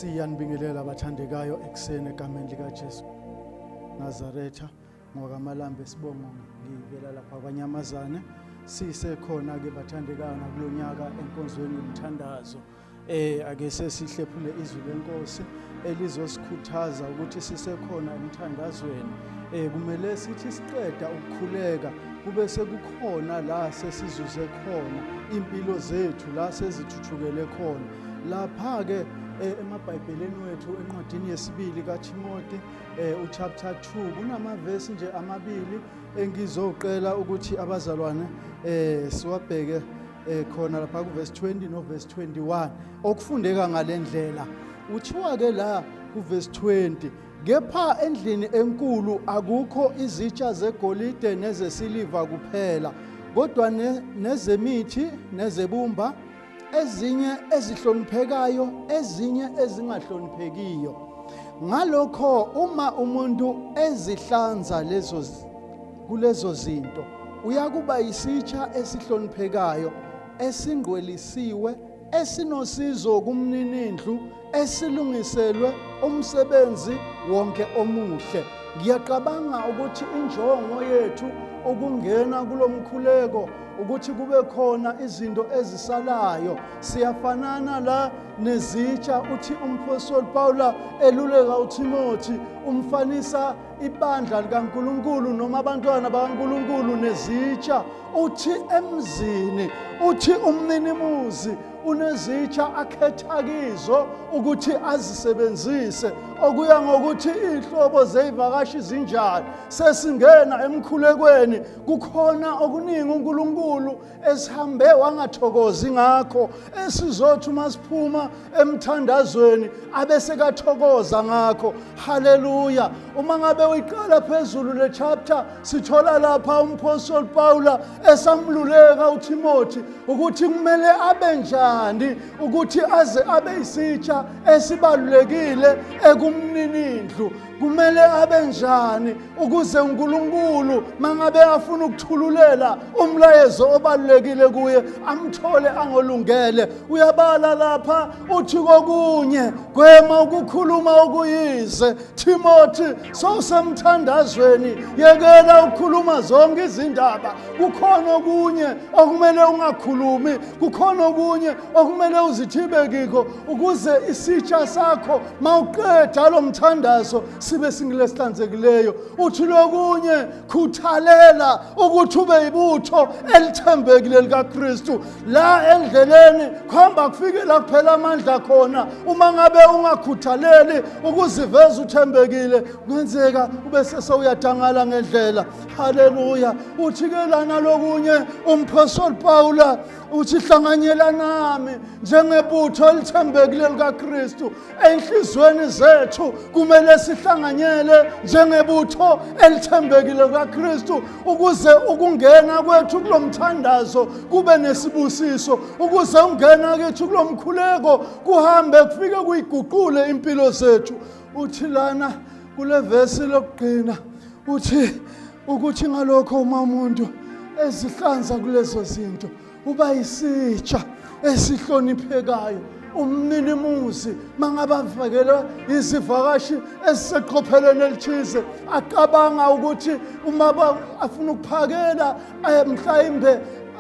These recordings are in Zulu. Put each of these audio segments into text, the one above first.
siyanibingelela abathandekayo ekuseni egameni likaJesu Nazaretha ngokaMalambe sibonga ngivela lapha kwanyamazane sisekhona ke bathandekayo nakulonyaka enkonzweni yomthandazo Eh ake sesihlephule izwi lenkosi elizosikhuthaza ukuthi sisekhona emthandazweni. Eh kumele sithi siqeda ukukhuleka kube sekukhona la sesizuze khona impilo zethu la sezithuthukele khona. Lapha ke eh, emabhayibheleni wethu encwadini yesibili kaThimothi eh, uchapter 2 kunamavesi nje amabili Engizocela ukuthi abazalwane eh siwabheke eh khona lapha ku verse 20 no verse 21 okufundeka ngalendlela uthiwa ke la ku verse 20 kepha endlini enkulu akukho izitsha zegolide nezesiliva kuphela kodwa nezemithi nezebumba ezinye ezihloniphekayo ezinye ezingahloniphekiyo ngalokho uma umuntu ezihlanza lezo kulezo zinto uyakuba isitsha esihloniphekayo esingqwelisiwe esinosizo kumninindlu esilungiselwe umsebenzi wonke omuhle ngiyaqabanga ukuthi injongo yethu ukungena kulo mkhuleko ukuthi kube khona izinto ezisalayo siyafanana la nezitsha uthi umphostoli pawula eluleka uthimothi umfanisa ibandla likankulunkulu noma abantwana bakankulunkulu nezitsha uthi emzini uthi umninimuzi unezitsha akhetha kizo ukuthi azisebenzise okuya ngokuthi iy'nhlobo zey'vakashi zinjani sesingena emkhulekweni kukhona okuningi unkulunkulu esihambe wangathokozi ngakho esizothi uma siphuma emthandazweni abesekathokoza ngakho haleluya uma ngabe uyiqala phezulu le chapter Sithola lapha umphostoli Pawula esamluleka uThimothi ukuthi kumele abe njani ukuthi aze abe isitsha esibalulekile ekumninindlu. Kumele abe njani ukuze uNkulunkulu mangabe afuna ukuthululela umlayezo obalulekile kuye amthole angolungele. Uyabala lapha uthi kokunye gwema ukukhuluma okuyize Timothy sowusemthandazweni yekela ukukhuluma zonke izindaba kukhona okunye okumele ungakhulumi kukhona okunye okumele uzithibe kikho ukuze isitsha sakho mawuqeda lo mthandazo sibe singilesihlanzekileyo uthi lokunye khuthalela ukuthi ube yibutho elithembekile likaKristu la endleleni khomba kufike la kuphela amandla khona uma ngabe ungakhuthaleli ukuziveza uthembekile kungenzeka ube sesewuyadangala ngendlela haleluya uthi-ke lana lokunye umphostoli pawula uthi hlanganyelanami njengebutho elithembekile likakristu Enhlizweni zethu kumele sihlanganyele njengebutho elithembekile kaKristu ukuze ukungena kwethu kulomthandazo kube nesibusiso ukuze ungena kwethu kulomkhuleko kuhambe kufike kuyiguqule impilo zethu uthi lana kule vesi lokugcina uthi ukuthi ngalokho uma umuntu ezihlanza kulezo zinto uba isitsha esihloniphekayo umninimuzi mangabavekelwa izivakashi eziseqophelweni elithize acabanga ukuthi uma afuna ukuphakela eh, mhlawumbe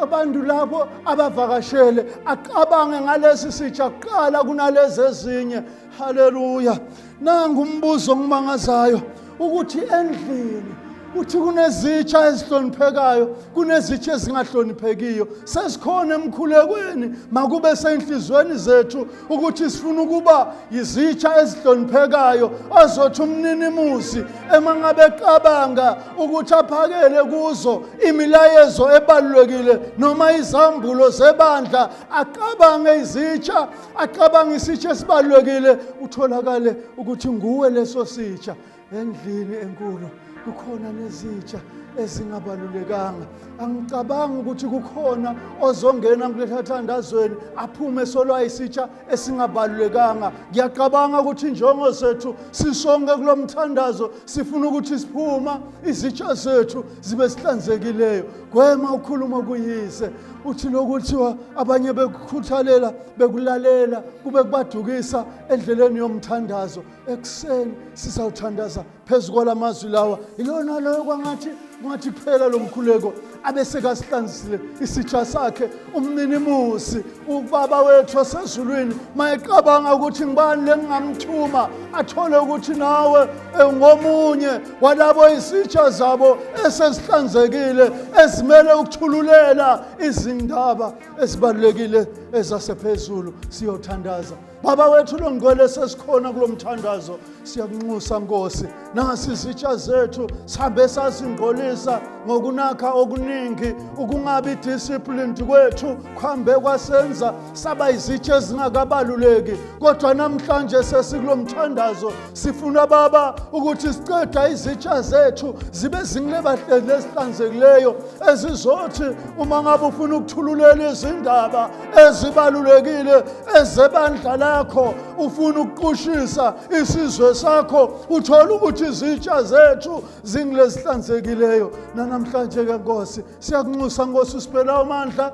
abantu labo abavakashele acabange ngalesi sitsha kuqala kunalezi ezinye haleluya nangu umbuzo ongimangazayo ukuthi endlini uthi kunezitsha ezihloniphekayo kunezitsha ezingahloniphekiyo sesikhona emkhulekweni makube senhlizweni zethu ukuthi sifuna ukuba yizitsha ezihloniphekayo azothi umninimuzi emangabe qabanga ukuthi aphakele kuzo imilayezo ebalulekile noma izambulo zebandla aqabange izitsha acabanga isitsha esibalulekile utholakale ukuthi nguwe leso sitsha endlini enkulu kukhona nezitsha ezingabalulekanga angicabangi ukuthi kukhona ozongena kulesathandazweni aphume solwayisitsha esingabalulekanga ngiyacabanga ukuthi njongo zethu sisonke kulo mthandazo sifuna ukuthi siphuma izitsha zethu zibe sihlanzekileyo gwema ukhuluma kuyise uthi lokuthiwa abanye bekukhuthalela bekulalela kube kubadukisa endleleni yomthandazo ekuseni sisawuthandaza phezu kwala mazwi lawa yilona loyo kwangathi kungathi kuphela lo mkhuleko abe sekasihlanzisile isitsha sakhe umninimusi ubaba wethu osezulwini mayeqabanga ukuthi ngibani lengingamthuma athole ukuthi nawe eh, ngomunye kwalabo izitsha zabo esezihlanzekile ezimele ukuthululela izindaba ezibalulekile ezasephezulu siyothandaza baba wethu longcwele sesikhona kulo mthandazo siyakunxusa nkosi nasi izitsha zethu sihambe sazingqolisa ngokunakha okuningi ukungabi disciplined kwethu kuhambe kwasenza saba izitsha ezingakabaluleki kodwa namhlanje sesikulo mthandazo sifuna baba ukuthi siqeda izitsha zethu zibe zincebahlezi nezihlanzekileyo ezizothi uma ngabe ufuna ukuthululela izindaba ezibalulekile ezebandla lakho ufuna ukuqushisa isizwe sakho uthole ukuthi izitsha zethu zingilezihlanzekileyo nanamhlanje ke nkosi siyakunxusa nkosi usibela amandla